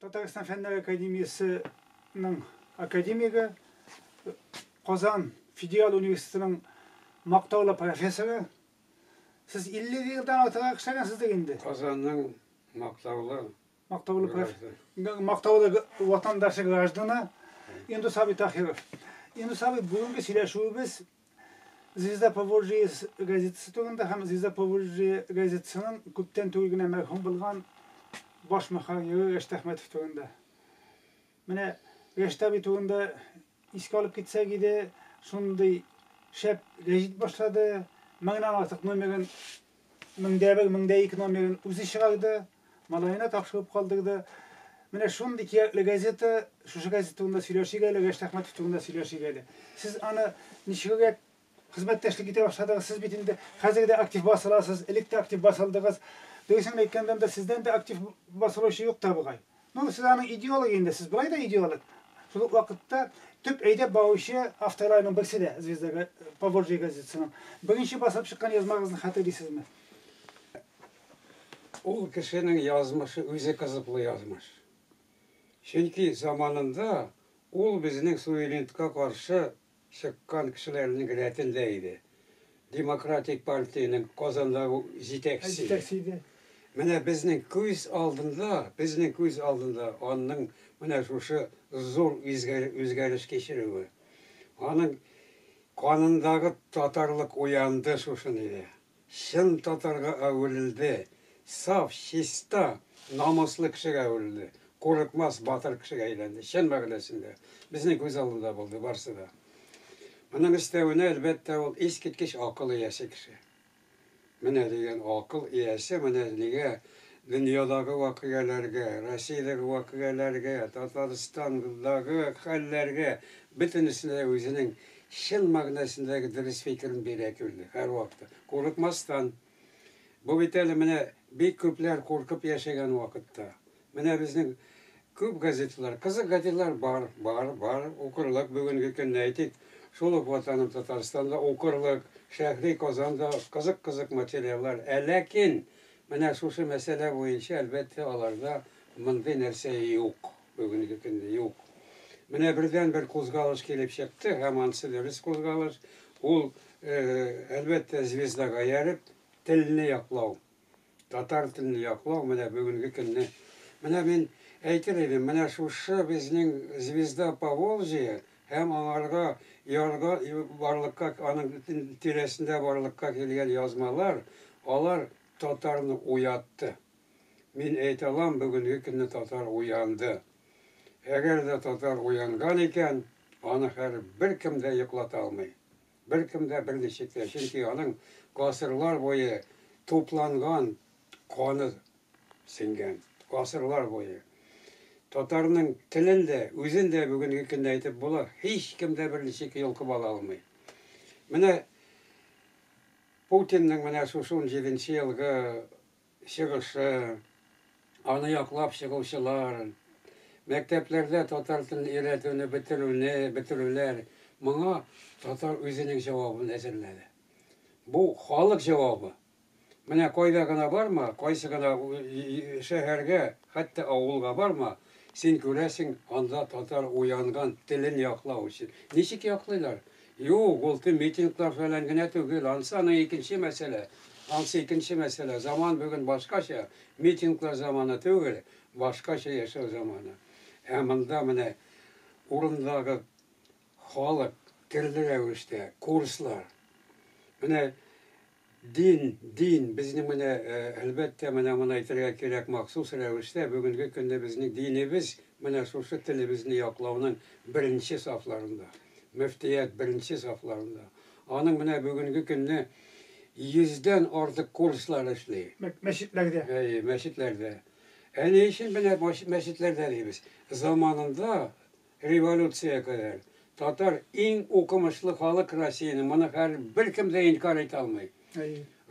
Татарстан фәннәр академиясенең академигы, Казан федераль университетының мактаулы профессоры. Сез 50 елдан артыграк эшләгәнсездер инде. Казанның мактаулы Мактаулы профессор. Мактаулы ватандашы граждана Индус абый Тахиров. Индус абый бүгенге сөйләшүебез Звезда Поволжье газетасы турында һәм Звезда Поволжье газетасының күптән түгел генә мәрхүм булган баш мөхәррире Рәшит Әхмәтов турында. Менә Рәшит абый турында искә алып китсәк иде, шундый шәп гәҗит башлады, меңнән артык номерын, мең дә бер, мең дә ике номерын үзе чыгарды, малаена тапшырып калдырды. Менә шундый кирәкле газета, шушы газет турында сөйләшик әле, Рәшит Әхмәтов турында сөйләшик әле. Сез аны ничегрәк Хезмәттәшлек итә башладыгыз. Сез бит инде хәзер дә актив басыласыз, элек тә актив басылдыгыз. Дөресен әйткәндә дә, сездән дә актив басылучы юк та бугай. Ну, сез аның идеологы инде, сез болай да идеолог. Шул ук вакытта төп әйдәп баручы авторларның берсе дә Звезда га- Поволжье газетасының. Беренче басылып чыккан язмагызны хәтерлисезме? Ул кешенең язмышы үзе кызыклы язмыш. Чөнки заманында ул безнең суверенитетка каршы чыккан кешеләрнең рәтендә иде. Демократик партиянең Казандагы җитәкчесе иде. Менә безнең күз алдында, безнең күз алдында аның менә шушы зур үзгәреш кичерүе. Аның канындагы татарлык уянды шушында. чын татарга әверелде, саф, чиста, намуслы кешегә әверелде, курыкмас, батыр кешегә әйләнде, чын мәгънәсендә. Безнең күз алдында булды барсы да. Моның өстәвенә, әлбәттә, ул искиткеч акыл иясе кеше. Менә дигән акыл иясе, менә нигә дөньядагы вакыйгаләргә, Россиядәге вакыйгаләргә, Татарстандагы хәлләргә, бөтенесенә дә үзенең Чын мәгънәсендәге дөрес фикерен бирә Түлде, һәрвакыты. Курыкмастан. Бу бит әле менә бик күпләр куркып яшәгән вакытта. Менә безнең күп газеталар, кызык газеталар бар, бар, бар, укырлык бүгенге көнне, әйтик, шул ук Ватаным Татарстан да укырлык, Шәһри Казан да кызык-кызык материаллар. Ә ләкин менә шушы мәсьәлә буенча, әлбәттә, аларда мондый нәрсә юк. Бүгенге көндә юк. Менә бердәнбер кузгалыш килеп чыкты, һәм ансы дөрес кузгалыш, ул, әлбәттә, звездага ияреп, телне яклау, татар телен яклау, менә бүгенге көнне. Менә мин әйтер идем, менә шушы безнең Звезда Поволжья һәм аңарга ярга барлыкка аның тирәсендә барлыкка килгән язмалар, алар татарны уятты. Мин әйтә алам, бүгенге көнне татар уянды. Әгәр дә татар уянган икән, аны хәер беркем дә йоклата алмый. Беркем дә, берничек тә. Чөнки аның гасырлар буе тупланган каны сеңгән. Гасырлар буе. Татарның телен дә, үзен дә бүгенге көнне әйтеп була, һичкем дә берничек йолкып ала алмый. Менә Путинның менә шушы унҗиденче елгы чыгышы, аны яклап чыгучылар, мәктәпләрдә татар телен өйрәтүне бетерүне, бетерүләр, моңа татар үзенең җавабын әзерләде. Бу, халык җавабы. Менә кайда гына барма, кайсы гына шәһәргә, хәтта авылга барма, син күрәсең, анда татар уянган, телен яклау өчен. Ничек яклыйлар? Юк, ул төн митинглар фәлән генә түгел. Ансы аның икенче мәсьәлә. Ансы икенче мәсьәлә. Заман бүген башкача. Митинглар заманы түгел, башкача яшәү заманы. Ә монда менә урындагы халык төрле рәвештә, курслар. Менә Дин, дин, безнең менә, әлбәттә, менә моны әйтергә кирәк махсус рәвештә, бүгенге көнне безнең динебез менә шушы телебезне яклауның беренче сафларында, мөфтият беренче сафларында. Аның менә бүгенге көнне йөздән артык курслар эшли. Мәчетләрдә. Әйе, мәчетләрдә. Ә ни өчен менә мәчетләрдә дибез? Заманында Революциягә кадәр татар иң укымышлы халык Россиянең, моны хәр беркем дә инкар итә алмый.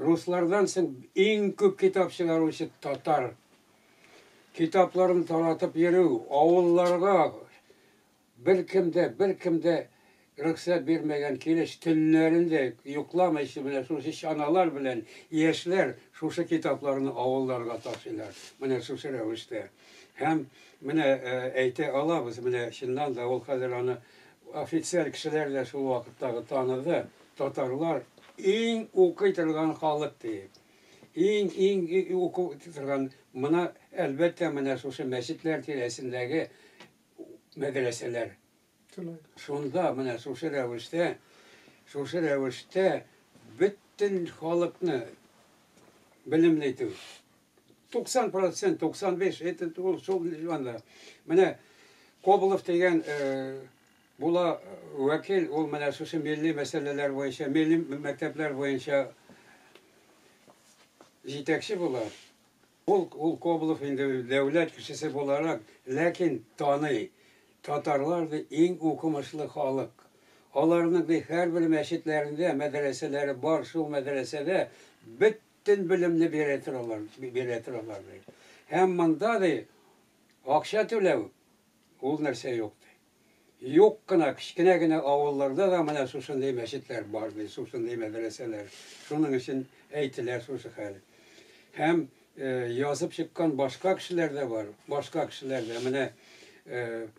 Руслардан соң иң күп китап чыгаручы татар. Китапларын таратып йөрү, авылларга беркем дә, беркем дә Рөхсәт бирмәгән килеш төннәрен дә йокламыйча менә шушы чаналар белән яшьләр шушы китапларны авылларга ташыйлар. Менә шушы рәвештә. Һәм менә әйтә алабыз, менә чыннан да ул хәзер аны официаль кешеләр дә шул вакыттагы таныды, татарлар иң укый торган халык диеп. Иң-иң уку торган мына әлбәттә менә шушы мәчетләр тирәсендәге мәдрәсәләр. Шунда менә шушы рәвештә, шушы рәвештә бөтен халыкны белемле итү. 90 процент, 95, это ул шул анда. Менә Коболов дигән була вәкил, ул менә шушы милли мәсьәләләр буенча, милли мәктәпләр буенча җитәкче була. Ул, ул Коблов инде дәүләт кешесе буларак, ләкин таный, татарлар ди иң укымышлы халык. Аларның ди һәрбер мәчетләрендә, мәдрәсәләре бар, шул мәдрәсәдә бөтен белемне бирә торалар, бирә торалар ди. Һәм монда ди акча түләү, ул нәрсә юк ди. Юк кына, кечкенә генә авылларда да менә шушындый мәчетләр бар, ди, шушындый мәдрәсәләр. Шуның өчен әйтелә шушы хәл. Һәм язып чыккан башка кешеләр дә бар, башка кешеләр дә. Менә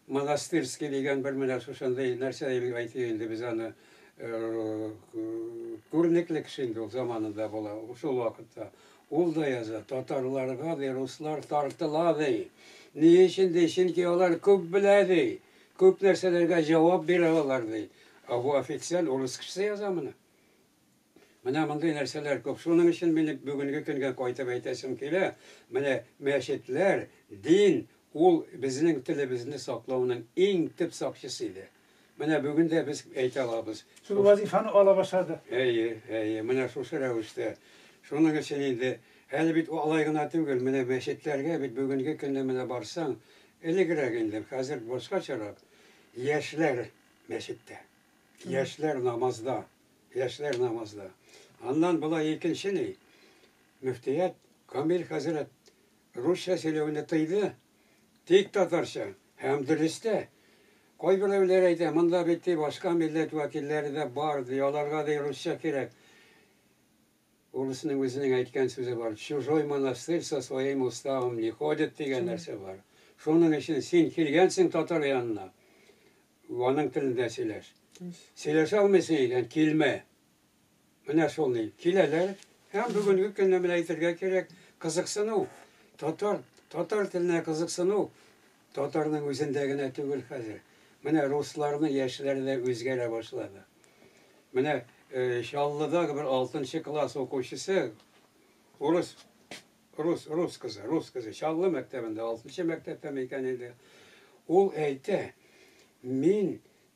Монастырский дигән бер менә шушындый нәрсә дип әйтик инде без аны, күренекле кеше инде ул заманында була, шул вакытта. Ул да яза, Татарларга вируслар тартыла, ди. Ни өчен, ди, чөнки алар күп белә, ди. Күп нәрсәләргә җавап бирә алар, ди. Ә бу официаль урыс кешесе яза моны. Менә мондый нәрсәләр күп. Шуның өчен минем бүгенге көнгә кайтып әйтәсем килә, менә мәчетләр, дин, ул безнең телебезне саклауның иң төп сакчысы иде. Менә бүген дә без әйтә алабыз. Шул вазифаны ала башлады. Әйе, әйе, менә шушы рәвештә. Шуның өчен инде, әле бит алай гына түгел, менә мәчетләргә бит бүгенге көнне менә барсаң, элегрәк инде, хәзер башкачарак, яшьләр мәчеттә, яшьләр намазда, яшьләр намазда. Аннан болай икенче ни, мөфтият Камил хәзрәт Русча сөйләүне тыйды, тик татарча, һәм дөрес тә. Кайберәүләр әйтә, монда бит, ди, башка милләт вәкилләре дә бар, ди, аларга, ди, русча кирәк. Урысның үзенең әйткән сүзе бар, в чужой монастырь со своим уставом не ходят, дигән нәрсә бар. Шуның өчен син килгәнсең татар янына, аның телендә сөйләш. Сөйләшә алмыйсың икән, килмә. Менә шул ни, киләләр һәм бүгенге көнне менә әйтергә кирәк, кызыксыну, татар, татар теленә кызыксыну татарның үзендә генә түгел хәзер. Менә русларны яшьләре дә үзгәрә башлады. Менә э, Чаллыда бер 6 класс укучысы урыс рус рус кызы, рус кызы Чаллы мәктәбендә 6 мәктәптә микән инде. Ул әйтә, мин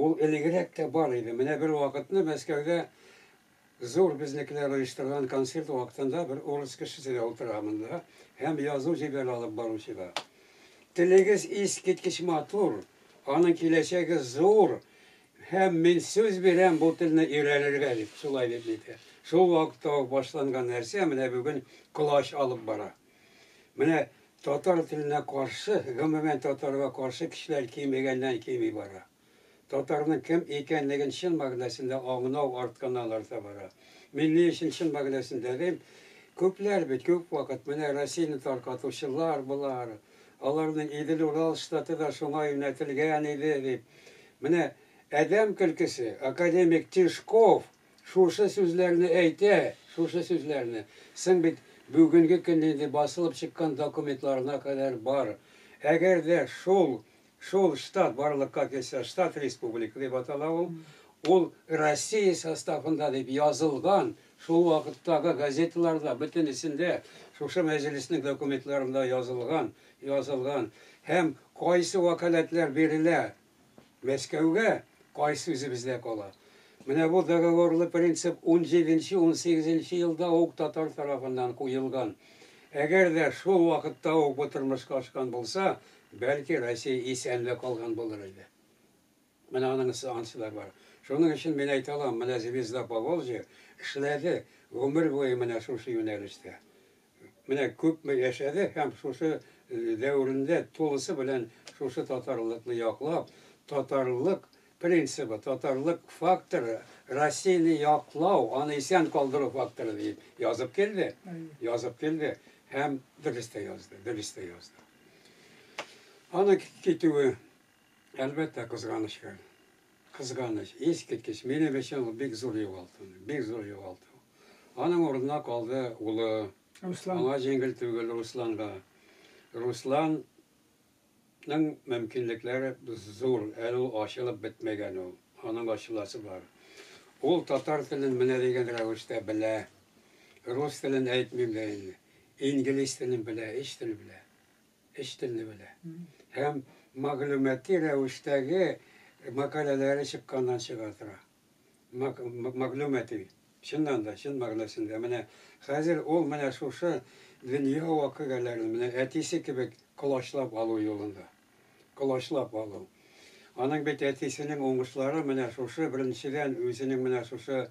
Ул элегрәк тә бар иде. Менә бер вакытны Мәскәүдә зур безнекеләр оештырган концерт вакытында бер урыс кешесе дә утыра монда һәм язу җибәрә алып баручыга. Телегез искиткеч матур, аның киләчәге зур һәм мин сүз бирәм бу телне өйрәнергә, дип, шулай дип әйтә. Шул вакытта ук башланган нәрсә менә бүген колач алып бара. Менә татар теленә каршы, гомумән татарга каршы кешеләр кимегәннән кими бара. Татарның кем икәнлеген чын мәгънәсендә аңнау артканнан арта бара. Мин ни өчен чын мәгънәсендә дим? Күпләр бит, күп вакыт менә Россияне таркатучылар болар, аларның Идел-Урал штаты да шуңа юнәтелгән иде дип. Менә адәм көлкесе, академик Тишков Шушы сүзләрне әйтә, шушы сүзләрне. Соң бит бүгенге көн инде басылып чыккан документларына кадәр бар. Әгәр дә шул, шул штат барлыкка килсә, штат республика дип атала ул, ул Россия составында дип язылган, шул вакыттагы газеталарда бөтенесендә, шушы мәҗлеснең документларында язылган, язылган. Һәм кайсы вәкаләтләр бирелә, Мәскәүгә кай сүзе бездә кала? Менә бу договорлы принцип унҗиденче-унсигезенче елда ук татар тарафыннан куелган. Әгәр дә шул вакытта ук бу тормышка ашкан булса, бәлки, Россия исән дә калган булыр иде. Менә аның ысыанчы да бар. Шуның өчен мин әйтә алам, менә Звезда Поволжья эшләде гомер буе менә шушы юнәлештә. Менә күпме яшәде һәм шушы дәверендә тулысы белән шушы татарлыкны яклап, татарлык принцибы, татарлык факторы, Россияне яклау, аны исән калдыру факторы диеп язып килде, язып килде һәм дөрес тә язды, дөрес тә язды. Аны китүе, әлбәттә, кызганычка. Кызганыч, искиткеч, минем өчен ул бик зур югалту, бик зур югалту. Аның урынына калды улы. Руслан. Аңа җиңел түгел Русланга. Русланның мөмкинлекләре зур, әле ул ачылып бетмәгән ул. Аның ачыласы бар. Ул татар телен менә дигән рәвештә белә. Рус телен әйтмим дә инде. Инглиз телен белә, өч тел белә. Өч телне белә. Һәм мәгълүмати рәвештәге мәкаләләре чыкканнан чыга тора. мәгълүмати, чыннан да, чын мәгънәсендә, менә хәзер ул менә шушы дөнья вакыйгаләрен менә әтисе кебек колачлап алу юлында. Колачлап алу. Аның бит әтисенең уңышлары менә шушы, беренчедән, үзенең менә шушы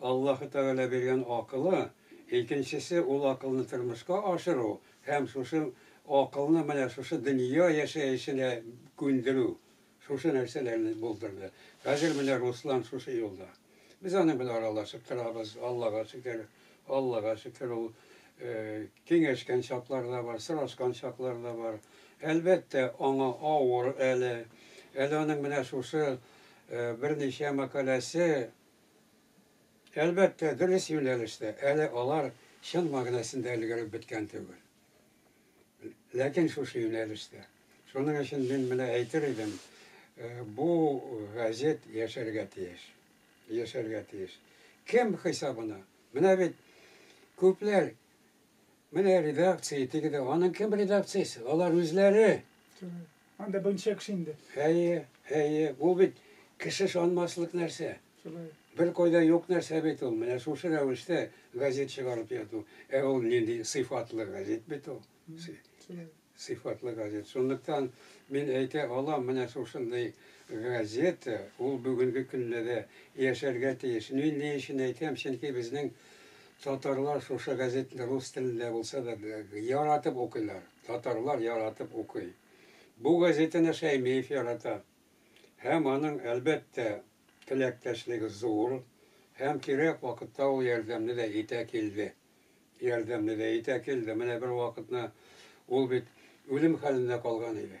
Аллаһы Тәгалә биргән акылы, икенчесе, ул акылны тормышка ашыру һәм шушы акылны менә шушы дөнья яшәешенә күндерү. Шушы нәрсәләрне булдырды. Хәзер менә Руслан шушы юлда. Без аның белән аралашып торабыз, Аллага шөкер. Аллага шөкер, ул киңәшкән чаклары да бар, сорашкан чаклары да бар. Әлбәттә, аңа авыр әле. Әле аның менә шушы берничә мәкаләсе, әлбәттә, дөрес юнәлештә, әле алар чын мәгънәсендә өлгереп беткән түгел. Ләкин шушы юнәлештә. Шуның өчен мин менә әйтер идем, бу газет яшәргә тиеш. Яшәргә тиеш. Кем хисабына? Менә бит күпләр менә редакция диде, аның кем редакциясе? Алар үзләре. Анда берничә кеше инде. Әйе, әйе, бу бит кеше ышанмаслык нәрсә. Шулай. Беркайда юк нәрсә бит ул, менә шушы рәвештә газет чыгарып яту. Ә ул нинди сыйфатлы газет бит ул. Шулай. Сыйфатлы газет. Шунлыктан мин әйтә алам, менә шушындый газета, ул бүгенге көндә дә яшәргә тиеш. Мин ни өчен әйтәм, чөнки безнең татарлар шушы газетны рус телендә булса да яратып укыйлар. татарлар яратып укый. Бу газетаны Шәймиев ярата. Һәм аның, әлбәттә, теләктәшлеге зур, һәм кирәк вакытта ул ярдәмне дә итә килде. Ярдәмне дә итә килде. Менә бервакытны ул бит үлем хәлендә калган иде.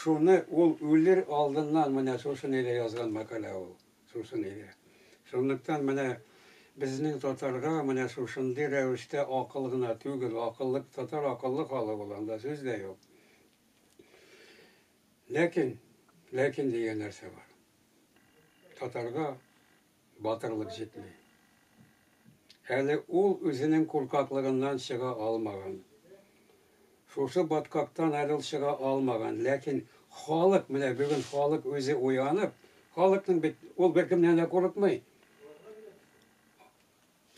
Шуны ул үлер алдыннан менә шусын иде язган мәкалә ул, шусын иде. Шунлыктан менә безнең татарга менә шушындый рәвештә акыл гына түгел, акыллык, татар акыллы халык ул, анда сүз дә юк. Ләкин, ләкин дигән нәрсә бар. Татарга. батырлык җитми. Әле ул үзенең куркаклыгыннан чыга алмаган. Шушы баткактан әле ул чыга алмаган. Ләкин халык, менә бүген халык үзе уянып, халыкның бит ул беркемнән дә курыкмый.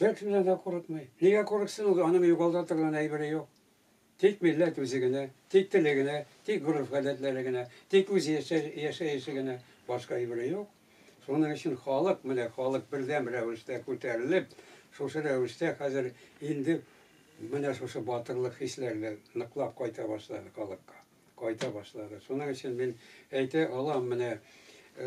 Беркемнән дә курыкмый. Нигә курыксын ул, аның югалта торган әйбере юк. Тик милләт үзе генә, тик теле генә, тик гореф-гадәтләре генә, тик үз яшәеше генә, башка әйбере юк. Шуның өчен халык, менә халык бердәм рәвештә күтәрелеп, шушы рәвештә хәзер инде менә шушы батырлык хисләре дә ныклап кайта башлады халыкка. кайта башлады. Шуның өчен мин әйтә алам, менә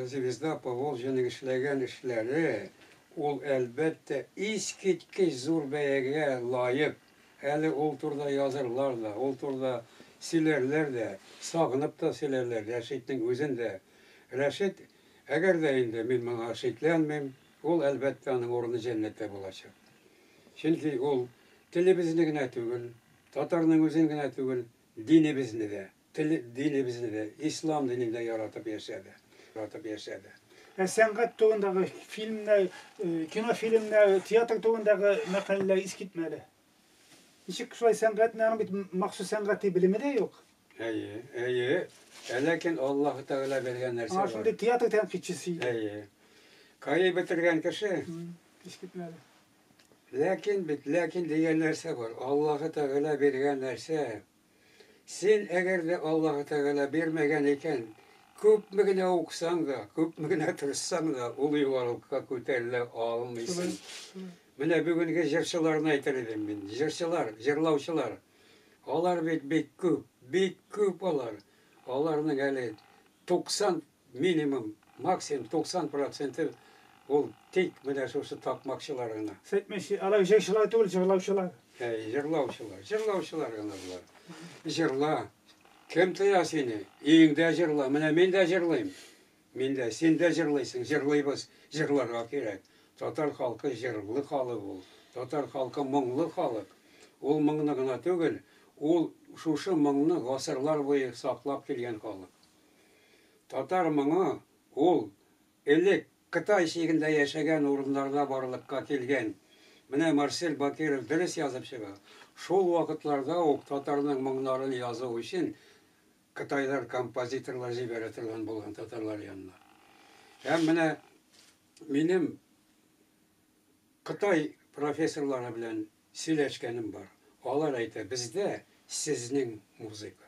Звезда Поволжьеның эшләгән эшләре, ул, әлбәттә, искиткеч зур бәягә лаек. Әле ул турыда язырлар да, ул турыда сөйләрләр дә, сагынып та сөйләрләр Рәшитнең үзен дә. Рәшит, әгәр дә инде мин моңа шикләнмим, ул, әлбәттә, аның урыны җәннәттә булачак. Чөнки ул телебезне генә түгел, татарның үзен генә түгел, Динебезне дә, тел, динебезне дә, ислам динен дә яратып яшәде, ратып яшәде. Ә сәнгать турындагы фильмнар, кинофильмнар, театр турындагы мәкаләләр искитмәле. Ничек шулай сәнгатьне, аның бит махсус сәнгати белеме дә юк. Әйе, әйе. Ә ләкин Аллаһу Тәгалә биргән нәрсә бар. А шундый театр тәнкыйтьчесе иде. Әйе. Каи бетергән кеше. Искитмәле. Ләкин бит, ләкин дигән нәрсә бар. Аллаһы Тәгалә биргән нәрсә. Син, әгәр дә Аллаһы Тәгалә бирмәгән икән, күпме генә укысаң да, күпме генә тырышсаң да, ул югарылыкка күтәрелә алмыйсың. Менә бүгенге җырчыларны әйтер идем мин. Җырчылар, җырлаучылар. Алар бит бик күп, бик күп алар. Аларның әле 90 Минимум, максимум 90 проценты ул тик менә шушы такмакчылар гына. Сытмыйчы, алар җырчылар түгел, җырлаучылар. Әй, җырлаучылар, җырлаучылар гына болар. Җырла. Кем тыя сине? Өеңдә җырла. Менә мин дә җырлыйм. Мин дә, син дә җырлыйсың, җырлыйбыз. Җырларга кирәк. Татар халкы җырлы халык ул. Татар халкы моңлы халык. Ул моңны гына түгел, ул шушы моңны гасырлар буе саклап килгән халык. Татар моңы ул элек Кытай чигендә яшәгән урыннарда барлыкка килгән. Менә Марсель Бакиров дөрес язып чыга, шул вакытларда ук татарның моңнарын язу өчен кытайлар композиторлар җибәрә торган булган татарлар янына. Һәм менә минем Кытай профессорлары белән сөйләшкәнем бар, алар әйтә, бездә сезнең музыка.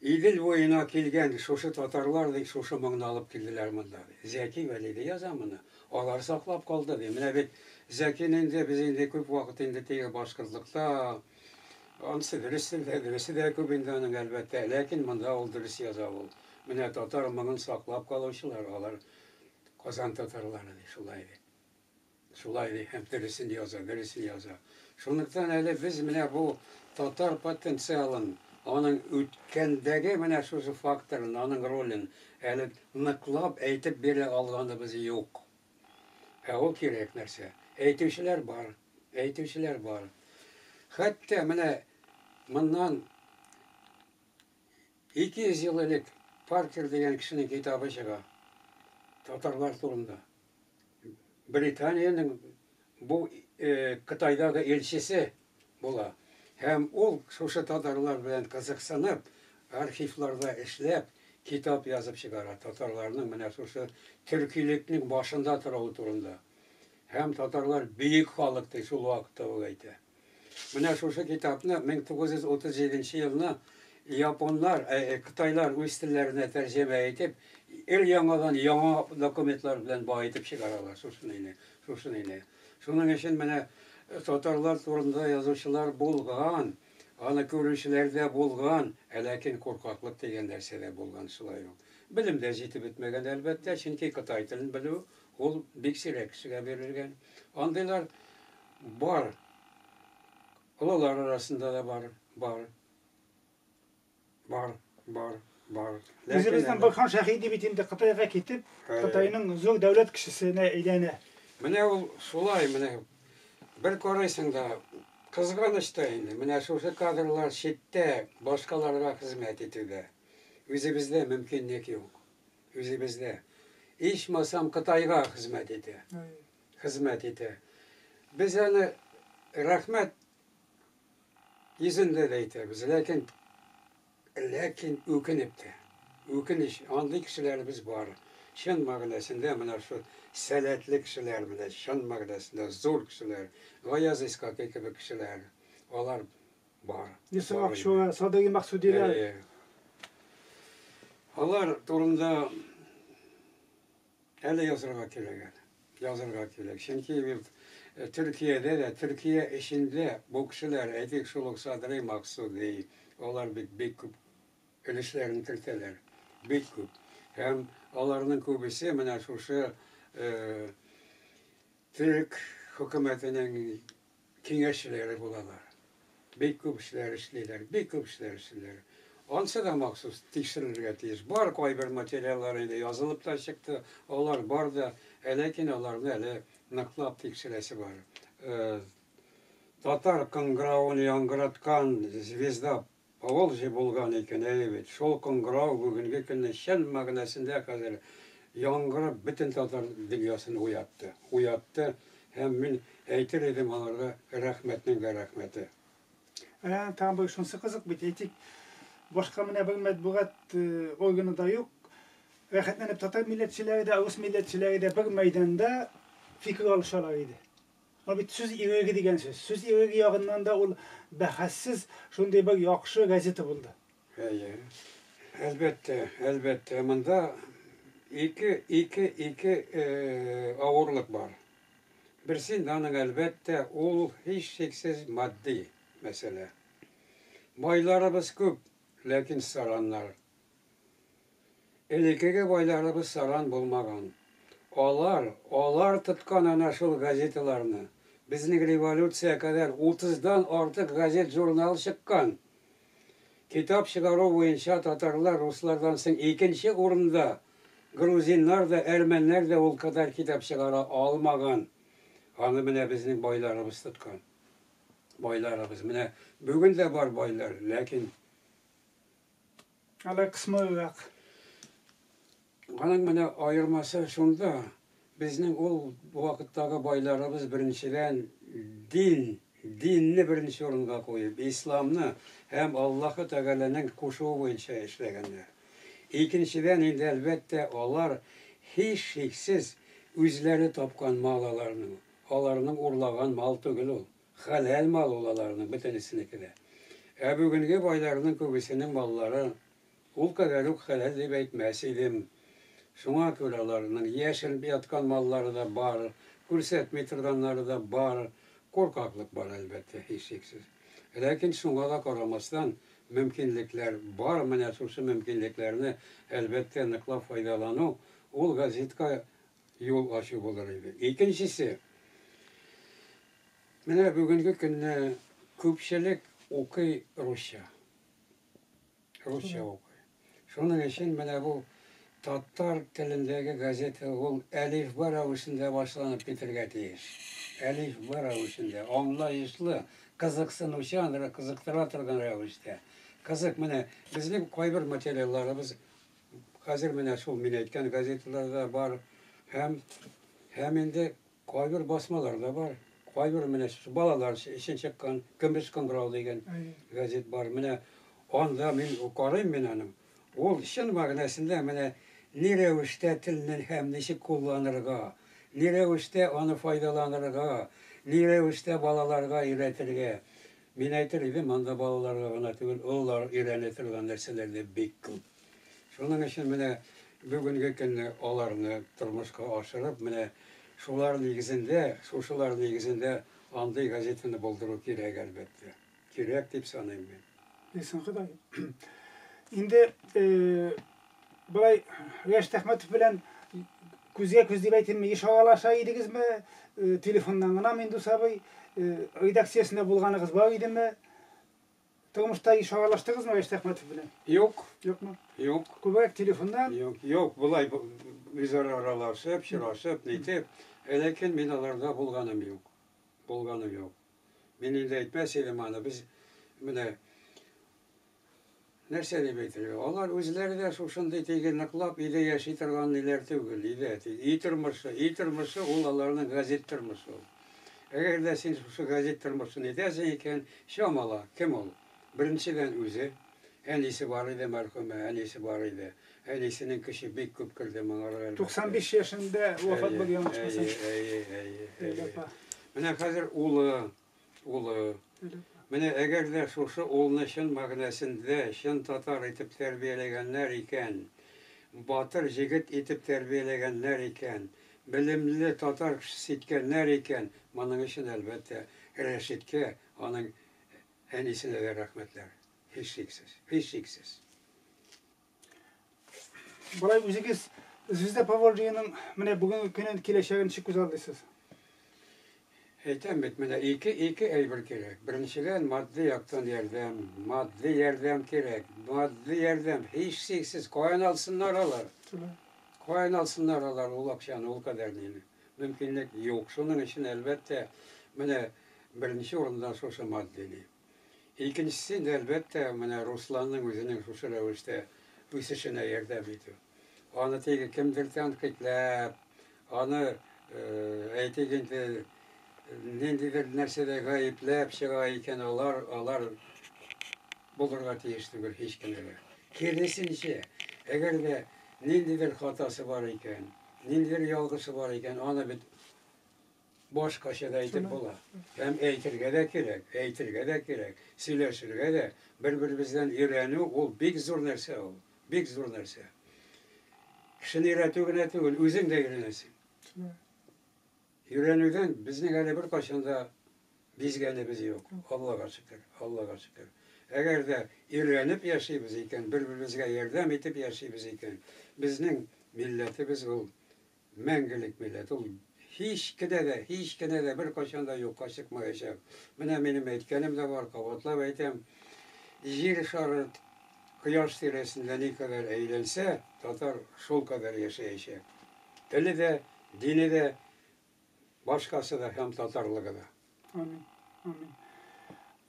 Идел буена килгән шушы татарлар бит шушы моңны алып килделәр монда, ди. Зәки Вәлиди яза моны. Алар саклап калды, ди. Менә бит Зәкин инде, без инде күп вакыт инде тиел башкортлыкта. Ансы дөресе дә, дөресе дә күп инде аның, әлбәттә. Ләкин монда ул дөрес яза ул. Менә татар моңын саклап калучылар, алар Казан татарлары, ди. Шулай, ди. Шулай ди һәм дөресен яза, дөресен яза. Шунлыктан әле без менә бу татар потенциалын, аның үткәндәге менә шушы факторын, аның ролен әле ныклап әйтеп бирә алганыбыз юк. Ә ул кирәк нәрсә. Әйтүчеләр бар, әйтүчеләр бар. Хәтта менә моннан 200 ел элек Паркер дигән кешенең китабы чыга татарлар турында. Британиянең бу Кытайдагы илчесе була. Һәм ул, шушы татарлар белән кызыксынып, архивларда эшләп, китап язып чыгара, татарларның менә шушы төркилекнең башында торуы турында. Һәм татарлар бөек халык, ди, шул вакытта ул әйтә. Менә шушы китапны 1937 елны японнар, э, э, кытайлар үз телләренә тәрҗемә итеп, өр-яңадан яңа документлар белән баетып чыгаралар шушыныйны, шушыныйны. Шуның өчен менә э, татарлар турында язучылар булган, аны күрүчеләр дә булган, ә ләкин куркаклык дигән нәрсә дә булган шулай ук. Белем дә җитеп бетмәгән, әлбәттә, чөнки кытай телен белү ул бик сирәк кешегә бирелгән. Андыйлар Бар. Олылар арасында да бар, бар. Бар, бар, бар. Үзебезнең Бакхан Шәһиди бит инде Кытайга китеп, Кытайның зур дәүләт кешесенә әйләнә. Менә ул шулай, менә бер карыйсың да, кызганыч та инде, менә шушы кадрлар читтә башкаларга хезмәт итүгә. Үзебездә мөмкинлек юк. Үзебездә. Ичмасам Кытайга хезмәт итә. хезмәт итә. Без әле рәхмәт йөзендә дә әйтәбез, ләкин, ләкин үкенеп тә. Үкенеч, андый кешеләребез бар. Чын мәгънәсендә менә шул сәләтле кешеләр, менә чын мәгънәсендә зур кешеләр, Гаяз Исхакый кебек кешеләр, алар бар. Йосыф Акчура, Садыйри Максудиләр. Әйе. Алар турында Әле язырга кирәк әле. Язырга кирәк. Чөнки бит Төркиядә дә, Төркия эчендә бу кешеләр, әйтик, шул ук Садри Максуди, алар бит бик күп өлешләрен кертәләр. Бик күп. Һәм аларның күбесе менә шушы төрек хөкүмәтенең киңәшчеләре булалар. Бик күп эшләр эшлиләр, бик күп эшләр эшлиләр. Ансы да махсус тикшерелергә тиеш. Бар кайбер материаллар инде язылып та чыкты, алар бар да, ә ләкин аларны әле ныклап тикшерәсе бар. Татар кыңгыравын яңгыраткан Звезда Поволжье булган икән, әйе бит. Шул кыңгырау бүгенге көнне чын мәгънәсендә хәзер яңгырап бөтен татар дөньясын уятты. Уятты һәм мин әйтер идем аңарда рәхмәтнең дә рәхмәте. Ә, тагын бер шунсы кызык бит, әйтик, башка менә бер мәтбугат органы да юк, рәхәтләнеп татар милләтчеләре дә, рус милләтчеләре дә бер мәйданда фикер алышалар иде. Бу бит сүз иреге дигән сүз. Сүз иреге ягыннан да ул бәхәссез шундый бер яхшы газета булды. Әйе. Әлбәттә, әлбәттә, монда ике, ике, ике авырлык бар. Берсе инде аның, әлбәттә, ул һичшиксез матди мәсьәлә. Байларыбыз күп, ләкин сараннар Элекеге байларыбыз саран булмаган. Алар, алар тоткан әнә шул газеталарны. Безнең революция кадәр утыздан артык газет-журнал чыккан. Китап чыгару буенча татарлар руслардан соң икенче урында, грузиннар да, әрмәннәр дә ул кадәр китап чыгара алмаган. Аны менә безнең байларыбыз тоткан. Байларыбыз. Менә бүген дә бар байлар, ләкин. Алай кысмыйрак. Аның менә аермасы шунда, безнең ул вакыттагы байларыбыз беренчедән дин, динне беренче урынга куеп, исламны һәм Аллаһы Тәгаләнең кушуы буенча эшләгәннәр. Икенчедән инде, әлбәттә, алар, һичшиксез, үзләре тапкан мал аларның, аларның урлаган мал түгел ул. Хәләл мал ул аларның бөтенесенеке дә. Ә бүгенге байларның күбесенең маллары ул кадәр үк хәләл дип әйтмәс идем. Шуңа күрә аларның яшеренеп яткан маллары да бар, күрсәтми торганнары да бар. Куркаклык бар, әлбәттә, һичшиксез. Ләкин шуңа да карамастан, мөмкинлекләр бар, менә шушы мөмкинлекләрне, әлбәттә, ныклап файдалану, ул газетка юл ачу булыр иде. Икенчесе, менә бүгенге көнне күпчелек укый русча. Русча укый. Шуның өчен менә бу татар телендәге газета ул әлифба рәвешендә башланып китергә тиеш. Әлифба рәвешендә, аңлаешлы, кызыксынучан, кызыктыра торган рәвештә. Кызык, менә безнең кайбер материалларыбыз Хәзер менә шул мин әйткән газеталар да бар һәм һәм инде кайбер басмалар да бар. Кайбер менә балалар өчен чыккан Көмеш кыңгырау дигән газет бар. Менә анда мин карыйм мин аны. Ул чын мәгънәсендә менә ни рәвештә телне һәм ничек кулланырга, ни рәвештә аны файдаланырга, ни рәвештә балаларга өйрәтергә. Мин әйтер идем, анда балаларга гына түгел, олылар өйрәнә торган нәрсәләр дә бик күп. Шуның өчен менә бүгенге көнне аларны тормышка ашырып, менә шулар нигезендә, шушылар нигезендә андый газетаны булдыру кирәк, әлбәттә. Кирәк дип саныйм мин. Исең кыдай. Инде Болай Рәшит Әхмәтов белән күзгә күз дип әйтимме, еш аралаша идегезме? Телефоннан гынамы, Индус абый? Редакциясендә булганыгыз бар идеме? Тормышта еш аралаштыгызмы Рәшит Әхмәтов белән? Юк. Юкмы? Юк. Күбрәк телефоннан? Юк, юк, болай үзара аралашып, чырашып, нитеп, ләкин мин аларда булганым юк. Булганым юк. Мин инде әйтмәс идем аны, без менә Нәрсә дип әйтергә? Алар үзләре дә шушындый теге ныклап өйдә яши торган ниләр түгел, өйдә теге өй тормышы, өй тормышы ул аларның газет тормышы ул. Әгәр дә син шушы газет тормышын әйтәсең икән, чамала, кем ул? Беренчедән үзе, әнисе бар иде мәрхүмә, әнисе бар иде. Әнисенең көче бик күп керде моңарга әлбәттә. 95 яшендә вафат булды, яңа чыкмасам. Әйе, әйе, әйе, әйе. Менә хәзер улы, улы. Менә әгәр дә шушы улны чын мәгънәсендә чын татар итеп тәрбияләгәннәр икән, батыр җегет итеп тәрбияләгәннәр икән, белемле татар кешесе иткәннәр икән, моның өчен, әлбәттә, Рәшиткә, аның әнисенә дә рәхмәтләр, һичшиксез, һичшиксез. Болай үзегез Звезда Поволжьеның менә бүгенге көнен киләчәген ничек күз алдыйсыз? Әйтәм бит, менә ике ике әйбер кирәк. Беренчедән, матди яктан ярдәм, матди ярдәм кирәк. Матди ярдәм, һичшиксез, каян алсыннар алар? Каян алсыннар алар ул акчаны, ул кадәр нине? Мөмкинлек юк. Шуның өчен, әлбәттә, менә беренче урында шушы матди ни. Икенчесе, әлбәттә, менә Русланның үзенең шушы рәвештә үсешенә ярдәм итү. Аны теге кемдер тәнкыйтьләп, аны, әйтик инде, ниндидер нәрсәдә гаепләп чыга икән, алар, алар булырга тиеш түгел һич кенә дә. Киресенчә, әгәр дә ниндидер хатасы бар икән, ниндидер ялгышы бар икән, аны бит Башкача да әйтеп була. Һәм әйтергә дә кирәк, әйтергә дә кирәк, сөйләшергә дә, бер-беребездән өйрәнү ул бик зур нәрсә ул, бик зур нәрсә. Кешене өйрәтү генә түгел, үзең дә өйрәнәсең. Өйрәнүдән безнең әле беркайчан да бизгәнебез юк. Аллага шөкер, Аллага шөкер. Әгәр дә өйрәнеп яшибез икән, бер-беребезгә ярдәм итеп яшибез икән, безнең милләтебез ул Мәңгелек милләт, ул һич кенә дә, һич кенә дә беркайчан да юкка чыкмаячак. Менә минем әйткәнем дә бар, кабатлап әйтәм, Җир шары Кояш тирәсендә никадәр әйләнсә, татар шулкадәр яшәячәк. Теле дә, дине дә, башкасы да һәм татарлыгы да. Амин. Амин.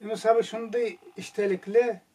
Юныс абый шундый эчтәлекле,